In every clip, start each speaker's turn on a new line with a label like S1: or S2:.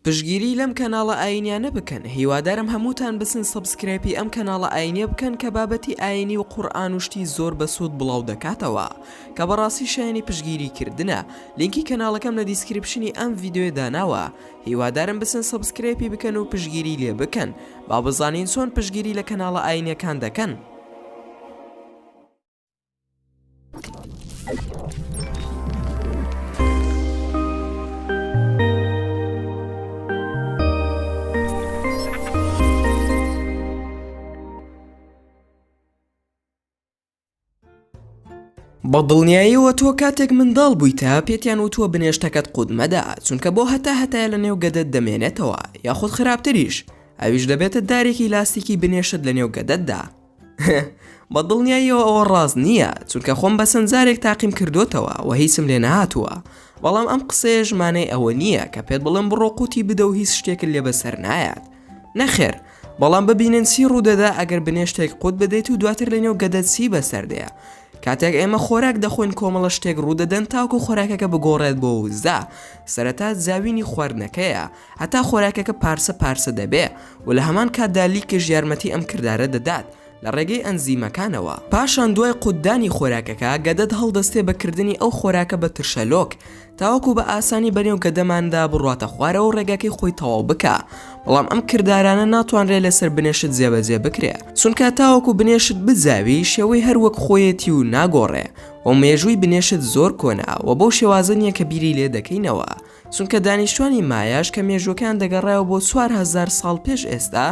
S1: پشگیری لەم کەناڵە ئاینیانە بکەن هیوادارم هەمووتان بچن سەبسکرایپی ئەم کەناڵە ئاینیە بکەن کە بابەتی ئاینی و قورئان و شتی زۆر بەسوود بڵاو دەکاتەوە کە بەڕاستی شایەنی پشگیری کردنە لینکی کەناڵەکەم لە دیسکریپشنی ئەم ڤیدیۆیە داناوە هیوادارم بچن سەبسکرایپی بکەن و پشگیری لێ بکەن با بزانین چۆن پشگیری لە کەناڵە ئاینیەکان دەکەن. بە دڵنیاییەوە تۆ کاتێک منداڵ بوویتە پێتیان وتووە بنێشتەکەت قودمەدا چونکە بۆ هەتا هەتایە لە نێو گەدەت دەمێنێتەوە یاخود خراپتریش ئەویش دەبێتە دارێکی لاستیکی بنێشت لە نێو گەدەتدا بە دڵنیاییەوە ئەوە ڕاست نییە چونکە خۆم بە چەند جارێک تاقیم کردوتەوە و هیچم لێ نهاتووە بەڵام ئەم قسەیە ژمانەی ئەوە نییە کە پێت بڵم بڕۆ قوتی بدە و هیچ شتێکت لێ بەسەر نایات نەخێر بەڵام ببینن چی ڕوودەدا ئەگەر بنێشتێک قوت بدەیت و دواتر لە نێو گەدە چی بەسەردەیە کاتێک ئێمە خۆراک دەخۆین کۆمەڵە شتێک ڕوودەدەن تاکو خۆراکەکە بگۆڕێت بۆ وزە سەرەتا زاوینی خواردنەکەیە هەتا خۆراکەکە پارسە پارسە دەبێ و لە هەمان کاتدا لیکش یارمەتی ئەم کردارە دەدات لە ڕێگەی ئەنزیمەکانەوە. پاشان دوای قوتدانی خۆراکەکە، گەدەت هەڵدەستێ بە کردنی ئەو خۆراکە بە ترشەلۆک تاوەکو بە ئاسانی بەنێو گەدەماندا بڕواتە خوارەوە و ڕێگاکەی خۆی تەواو بکا، بەڵام ئەم کردارانە ناتوانرێ لەسەر بنێشت جێبەجێ بکرێ، چونکا تاوەکو بنێشت بزاوی شێوەی هەر وەک خۆیەتی و ناگۆڕێ و مێژووی بنێشت زۆر کۆنە و بەو شێوازە نیە کە بیری لێ دەکەینەوە، چونکە دانیشتوانی مایاش کە مێژووەکەیان دەگەڕایەوە بۆ چوار هەزار ساڵ پێش ئێستا،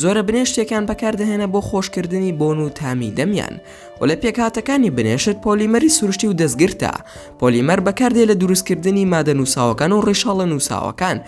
S1: زۆرە بنێشتێکیان بەکاردەهێنە بۆ خۆشکردنی بۆن و تامی دەمیان و لە پێکهاتەکانی بنێشت پۆلیمەری سروشتی و دەستگرتە، پۆلیمەر بەکاردێ لە دروستکردنی مادە نووساوەکان و ڕیشاڵە نووساوەکان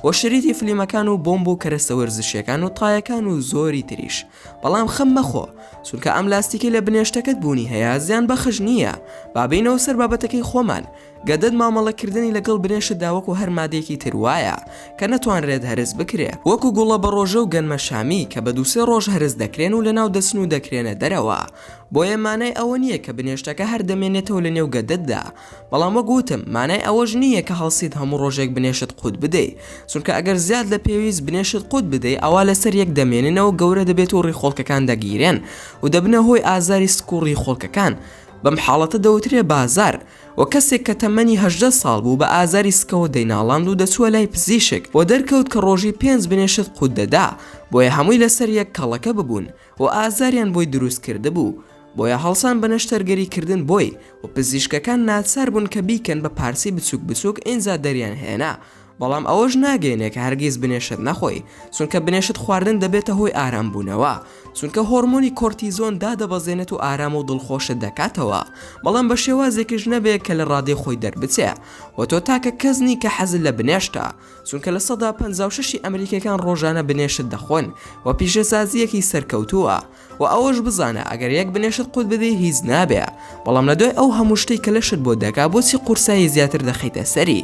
S1: و شریتی فلیمەکان و بۆمب و کەرەستە وەرزشیەکان و تایەکان و زۆری تریش، بەڵام خەم مەخۆ چونکە ئەم لاستیکەی لە بنێشتەکەت بوونی هەیە زیان بەخش نییە، با بێینەوە سەر بابەتەکەی خۆمان. گەدەت مامەڵە کردنی لەگەڵ برێشتدا وەکو هەر مادەیەکی تر وایە کە نەتوانرێت هەرس بکرێ وەکو گوڵە بەڕۆژە و گەنمە شامی کە بە دوو سێ ڕۆژ هەرس دەکرێن و لەناو دەچن و دەکرێنە دەرەوە بۆیە مانای ئەوە نییە کە بنێشتەکە هەر دەمێنێتەوە لە نێو گەدەتدا بەڵام وەک وتم مانای ئەوەش نییە کە هەڵسیت هەموو ڕۆژێک بنێشت قوت بدەی چونکە ئەگەر زیاد لە پێویست بنێشت قوت بدەی ئەوا لەسەر یەک دەمێننەوە گەورە دەبێت و ڕیخۆڵکەکان دەگیرێن و دەبنە هۆی ئازاری سک و ڕیخۆڵکەکان بەم حاڵەتە دەوترێ بازار و کەسێک کە تەمەنی هەژدە ساڵ بوو بە ئازاری سکەوە دەیناڵاند و دەچووە لای پزیشک و دەرکەوت کە ڕۆژی پێنج بنێشت قووت دەدا بۆیە هەمووی لەسەر یەک کەڵەکە ببوون و ئازاریان بۆی دروست کردبوو بۆیە هەڵسان بە نەشتەرگەری کردن بۆی و پزیشکەکان ناچار بوون کە بیکەن بە پارچەی بچووک بچووک ئینجا دەریان هێنا بەڵام ئەوەش ناگەینێ کە هەرگیز بنێشت نەخۆی چونکە بنێشت خواردن دەبێتە هۆی ئارام بوونەوە چونکە هۆرمۆنی کۆرتیزۆن دادەبەزێنێت و ئارام و دڵخۆشت دەکاتەوە بەڵام بە شێوازێکیش نەبێ کە لە ڕادەی خۆی دەربچێ و تۆ تاکە کەس نی کە حەزت لە بنێشتە چونکە لە سەدا پەنجا و شەشی ئەمریکیەکان ڕۆژانە بنێشت دەخۆن و پیشەسازییەکی سەرکەوتووە وە ئەوەش بزانە ئەگەر یەک بنێشت قوت بدەی هیچ نابێ بەڵام لە دوای ئەو هەموو شتەی کە لەشت بۆ دەکا بۆچی قورسایی زیاتر دەخەیتە سەری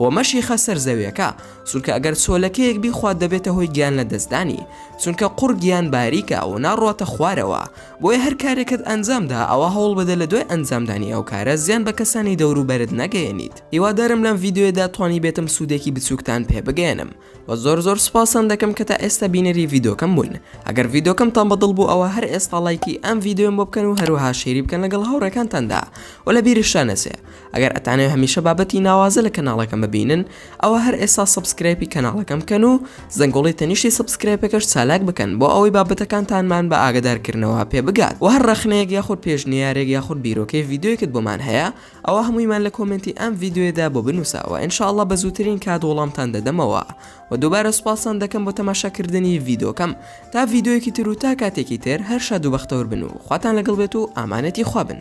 S1: وە مەشیخە سەر زەویەکە چونکە ئەگەر چۆلەکەیەک بیخوات دەبێتە هۆی گیان لە دەستدانی چونکە قوڕ گیان باریکە و ناڕواتە خوارەوە بۆیە هەر کارێکت ئەنجامدا ئەوە هەوڵ بدە لە دوای ئەنجامدانی ئەو کارە زیان بە کەسانی دەوروبەرت نەگەیەنیت هیوادارم لەم ڤیدیۆیەدا توانیبێتم سودێکی بچوکتان پێ بگەیەنم وە زۆر زۆر سوپاستان دەکەم کە تا ئێستا بینەری ڤیدۆکەم بوون ئەگەر ڤیدۆکەمتان بە دڵ بوو ئەوە هەر ئێستا ڵایکی ئەم ڤیدۆم بۆ بکەن و هەروەها شێری بکەن لەگەڵ هاوڕێکانتاندا و لە بیرشتان نەچێ ئەگەر ئەتانەوێ هەمیشە بابەتی ناوازە لە کەناڵەکەم ببینن ئەوە هەر ئێستا سەبسکرایپی کەناڵەکەم بکەن و زەنگۆڵی تەنیشتی سەبسکرایپەکەش چالاک بکەن بۆ ئەوەی بابەتەکانتانمان بە ئاگەدارکردنەوە پێ بگات و هەر ڕەخنەیەک یاخود پێشنیارێک یاخود بیرۆکەی ڤیدۆیەکت بۆمان هەیە ئەوە هەموویمان لە کۆمێنتی ئەم ڤیددیوێدا بۆ بنووسەوە ان شاء اللە بە زووترین کات وەڵامتان دەدەمەوە و دووبارە سوپاستان دەکەم بۆ تەماشاکردنی ڤیدۆکەم تا ڤیدۆیەکی تر و تا کاتێکی تر هەر شاد و بەختەور بن و خواتان لەگەڵ بێت و ئامانەتی خوا بن